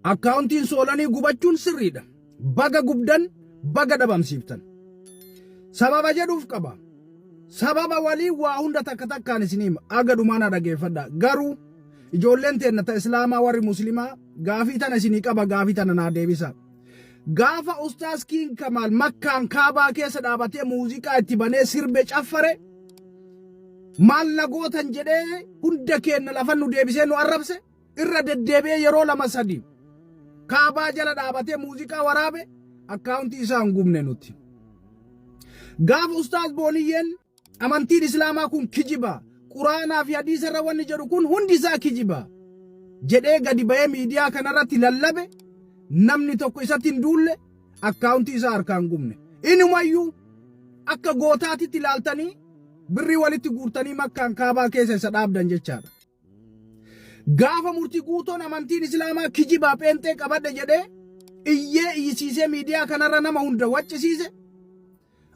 Akkaawuntiin soolanii gubachuun sirriidha. Baga gubdan baga dhabamsiiftan. Sababa jedhuuf qaba. Sababa walii waa hunda takka takkaan isin hima. Aga dhumaana dhageeffadha. Garuu ijoolleen teenna ta islaamaa warri muslimaa gaafii tana isinii qaba gaafii tana naa deebisa. Gaafa Ustaaz Kiing Kamaal Makkaan Kaabaa keessa dhaabatee muuziqaa itti banee sirbe caffare maal na gootan jedhee hunda keenna lafan nu deebisee nu arrabse irra deddeebi'ee yeroo lama sadi kaabaa jala dhaabatee muuziqaa waraabe akkaawuntii isaa hin gubne nuti. Gaafa Ustaaz Booniyyeen Amantiin Islaamaa kun kijiba, Quraanaa fi Hadiisa irra wanni jedhu kun hundi isaa kijiba jedhee gadi bahee miidiyaa kanarratti lallabe namni tokko isatti hin duulle akkaawuntii isaa harkaan gubne. Inumayyuu akka gootaatitti ilaaltanii birrii walitti guurtanii makkaan kaabaa keessa isa dhaabdan jechaadha. Gaafa murtii guutoon amantiin Islaamaa kijibaa pheenxee qabadhe jedhee iyyee iyyisiisee miidiyaa kanarra nama hunda waccisiise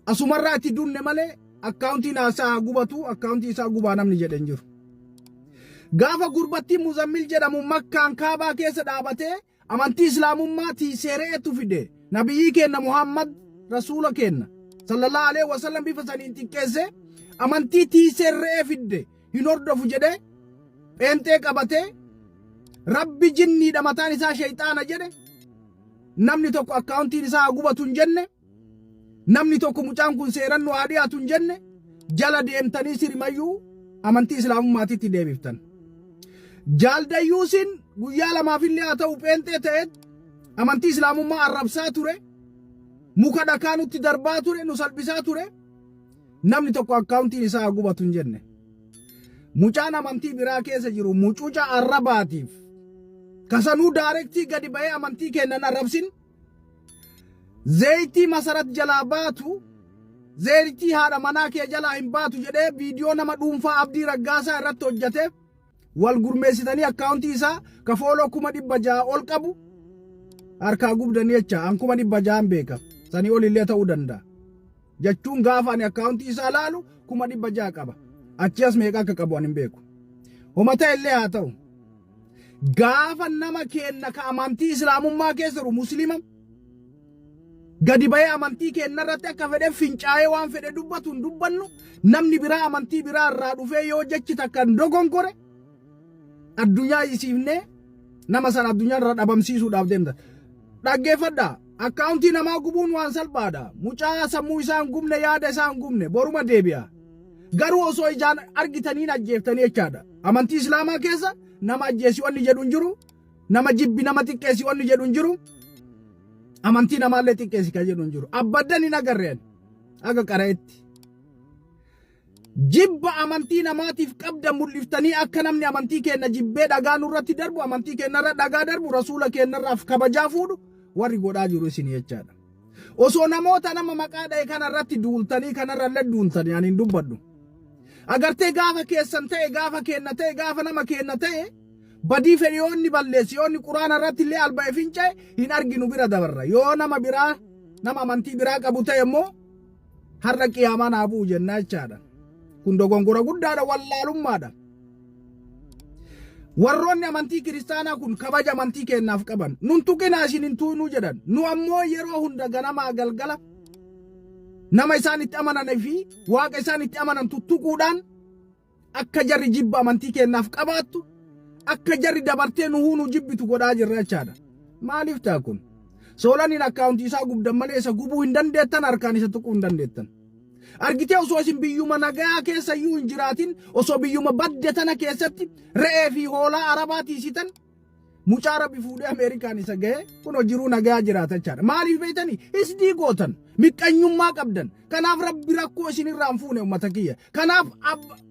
Asumarraa itti dunne malee akkaawuntiin haasaa haa gubatu akkaawuntii isaa gubaa namni jedhe hin jiru. Gaafa gurbattiin Muzammil jedhamu makkaan kaabaa keessa dhaabatee amantii islaamummaa tiiseere'etu fide nabiyyii keenna Muhammad rasuula keenna sallallahu alaihi wasallam bifa saniin xiqqeesse amantii tiiseerre'ee fidde hin hordofu jedhee pheenxee qabatee rabbi jinniidha mataan isaa shayxaana jedhe namni tokko akkaawuntiin isaa haa gubatu hin jenne Namni tokko mucaan kun seeran nu haa dhiyaatu hin jenne jala deemtanii sirimayyuu amantii islaamummaatitti deebiftan. Jaaldayyuusin guyyaa lamaaf illee haa ta'u pheenxee ta'eet amantii islaamummaa arrabsaa ture muka dhakaa nutti darbaa ture nu salphisaa ture namni tokko akkaawuntiin isaa haa gubatu hin jenne. Mucaan amantii biraa keessa jiru mucuca arrabaatiif kasanuu daarektii gadi ba'ee amantii kennan arrabsin Zeeytii masarat jalaa baatu zeeytii haadha manaa kee jalaa hin baatu jedhee viidiyoo nama dhuunfaa Abdii Raggaasaa irratti hojjate wal gurmeessitanii akkaawuntii isaa ka fooloo kuma dhibba ja'a ol qabu harkaa gubdanii jecha an kuma dhibba ja'an beeka sanii ol illee ta'uu danda'a. Jechuun gaafa ani akkaawuntii isaa laalu kuma dhibba ja'a qaba. Achi as meeqa akka qabu ani hin beeku. Homa ta'e illee haa ta'u. gaafa nama keenna ka amantii islaamummaa keessa jiru muslima gadi ba'ee amantii keenna irratti akka fedhe fincaa'ee waan fedhe dubbatu hin dubbannu namni biraa amantii biraa irraa dhufee yoo jechi takka hin dogonkore addunyaa isiifnee nama sana addunyaa irra dhabamsiisuudhaaf deemta. Dhaggeeffadha. Akkaawuntii namaa gubuun waan salphaadha. Mucaa sammuu isaan gubne yaada isaan gubne boruma deebi'a. Garuu osoo ijaan argitaniin ajjeeftanii jechaadha. Amantii Islaamaa keessa nama ajjeesii wanni jedhu hin jiru. Nama jibbi nama xiqqeessi wanni jedhu hin jiru. Amantii namaallee xiqqeessi kan jedhu hin jiru. Abbaddan hin agarreen akka qara'etti. Jibba amantii namaatiif qabda mul'iftanii akka namni amantii keenna jibbee dhagaa nurratti darbu amantii keennarra dhagaa darbu rasuula keennarraaf kabajaa fuudhu warri godhaa jiru isin jechaadha. Osoo namoota nama maqaa dha'e kana irratti duultanii kanarra illee duuntanii ani hin dubbadhu. Agartee gaafa keessan ta'e gaafa keenna ta'e gaafa nama keenna ta'e badii fedhe yoo inni balleessi yoo inni quraana irratti illee alba'e finca'e hin arginu bira dabarra. Yoo nama biraa nama amantii biraa qabu ta'e immoo har'a qiyaamaan haa bu'u jennaa jechaadha. Kun dogongora guddaadha wallaalummaadha. Warroonni amantii kiristaanaa kun kabaja amantii keenyaaf qaban nun tuqinaa isin hin tuqinuu jedhan nu ammoo yeroo hunda ganamaa galgala nama isaan itti amananii fi waaqa isaan itti amanantu tuquudhaan Akka jarri jibba amantii keenyaaf qabaattu, akka jarri dabartee nu huunuu jibbitu godhaa jirra jechaadha. Maaliif ta'a kun? Soolaniin akkaawuntii isaa gubdan malee isa gubuu hin dandeettan, harkaan isa tuquu hin dandeettan. Argitee osoo isin biyyuma nagayaa keessa iyyuu hin jiraatin, osoo biyyuma badde tana keessatti re'ee fi hoolaa arabaa tiisitan, Mucaa rabbi fuudhee Ameerikaan isa ga'ee kunoo jiruu nagaa jiraata jechaadha. Maaliif beektanii? Isdii gootan. Miqqanyummaa qabdan. Kanaaf rabbi rakkoo isinirraa hin fuune uummata kiyya. Kanaaf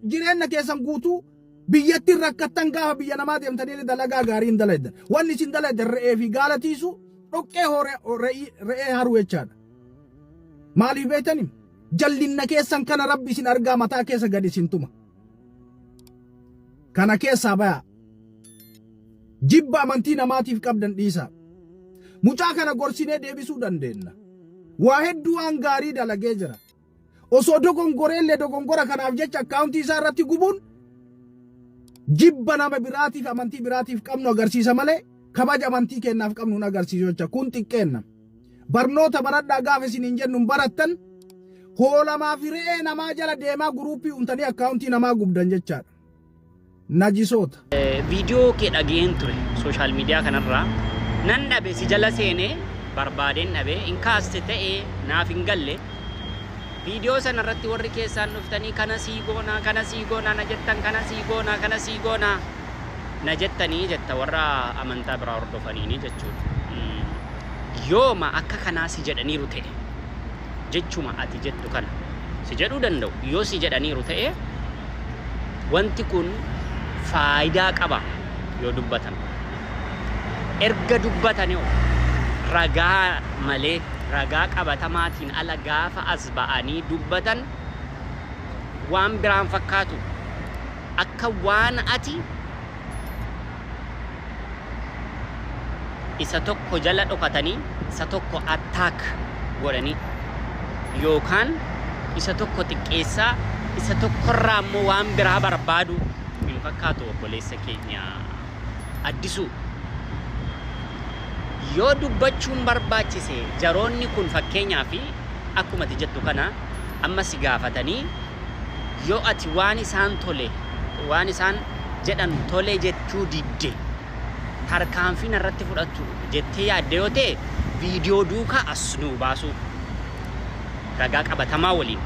jireenya keessan guutuu biyyattiin rakkattan gaafa biyya namaa deemtanii dalagaa gaarii hin dalaydan. Wanni isin dalaydan re'ee fi gaala tiisu dhoqqee re'ee haruu jechaadha. Maaliif beektanii? Jallinna keessan kana rabbi isin argaa mataa keessa gadi isin tuma. Kana keessaa bayaa. Jibba amantii namaatiif qabdan dhiisaa. Mucaa kana gorsinee deebisuu dandeenna. Waa hedduu waan gaarii dalagee jira. Osoo dogongoreellee dogongora kanaaf jecha akkaawuntii isaa irratti gubuun jibba nama biraatiif amantii biraatiif qabnu agarsiisa malee kabaja amantii keennaaf qabnu hin agarsiisu jecha kun xiqqeenna. Barnoota baradhaa gaafa isiniin jennu hin barattan hoolamaa fi re'ee namaa jala deemaa guruuppii uumtanii akkaawuntii namaa gubdan jechaadha. najisoota. Viidiyoo kee dhaga'een ture social media kanarraa nan dhabe si jala seenee barbaadeen dhabe hin kaaste ta'e naaf hin galle viidiyoo sana irratti warri keessaan dhuftanii kana sii goonaa kana sii goonaa na jettan kana sii goonaa kana sii goonaa na jettanii jetta warra amantaa biraa hordofaniini jechuudha. Yooma akka kanaa si jedhaniiru ta'e. jechuma ati jettu kana si jedhuu danda'u. Yoo si jedhaniiru ta'e wanti kun faayidaa qaba yoo dubbatan. Erga dubbatanii hoo ragaa malee ragaa qabatamaatiin ala gaafa as ba'anii dubbatan waan biraan fakkaatu. Akka waan ati isa tokko jala dhokatanii isa tokko attack godhanii yookaan isa tokko xiqqeessaa isa tokkorraa immoo waan biraa barbaadu hin fakkaatu obboleessa keenya addisuu yoo dubbachuun barbaachise jaroonni kun fakkeenyaa fi akkuma ati jettu kana amma si gaafatanii yoo ati waan isaan tole waan isaan jedhan tole jechuu didde tarkaanfii narratti fudhattu jettee yaadda yoo ta'e viidiyoo duukaa as nuu baasuu ragaa qabatamaa waliin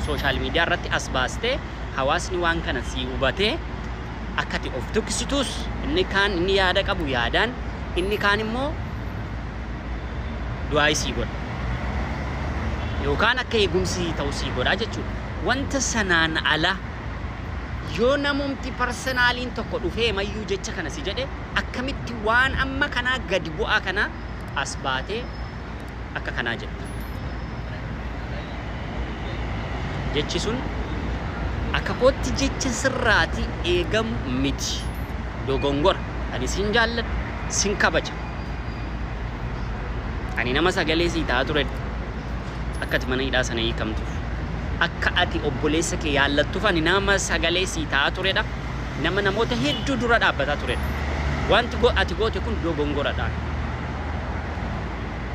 sooshaal miidiyaa irratti as baastee hawaasni waan kana sii hubatee akkati of duksituus inni kaan inni yaada qabu yaadaan inni kaan immoo du'aa sii godha yookaan akka eegumsi ta'u sii godhaa jechuudha. Wanta sanaan ala Yoo namumti parsenaaliin tokko dhufeemayyuu jecha kana si jedhe akkamitti waan amma kanaa gadi bu'aa kana as baatee akka kanaa jetta? Jechi sun akka kootti jecha sirraati eegamu miti. Dogongora. Ani sin jaalladha, sin kabaja. Ani nama sagalee sii ta'aa turedha. akka ati mana hidhaa sana hiikamtuuf, akka ati obboleessa kee yaallattuuf ani nama sagalee sii ta'aa turedha, nama namoota hedduu dura dhaabbataa turedha. Wanti ati goote kun dogongoradha.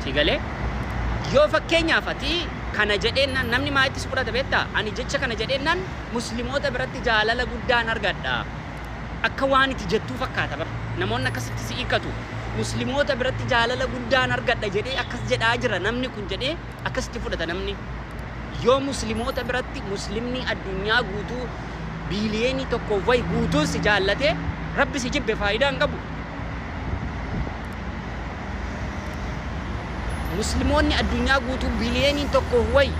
Sii galee? Yoo fakkeenyaaf ati kana jedheennaan namni maaitti si fudhata beektaa? Ani jecha kana jedheennaan Muslimoota biratti jaalala guddaan argadha. Akka waan iti jettuu fakkaata bar. Namoonni akkasitti si hiikkatu. Muslimoota biratti jaalala guddaan argadha jedhee akkas jedhaa jira namni kun jedhee akkasitti fudhata namni. Yoo Muslimoota biratti Muslimni addunyaa guutuu biiliyeenii tokkoof wayi guutuun si jaallatee Rabbi si jibbe faayidaa hin qabu. Muslimoonni addunyaa guutuu biiliyeeniin tokkoof wayi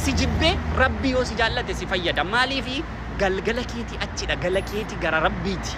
si jibbee Rabbi yoo si jaallate si fayyada. Maaliifi? Galgala keeti achidha gala keeti gara rabbiiti.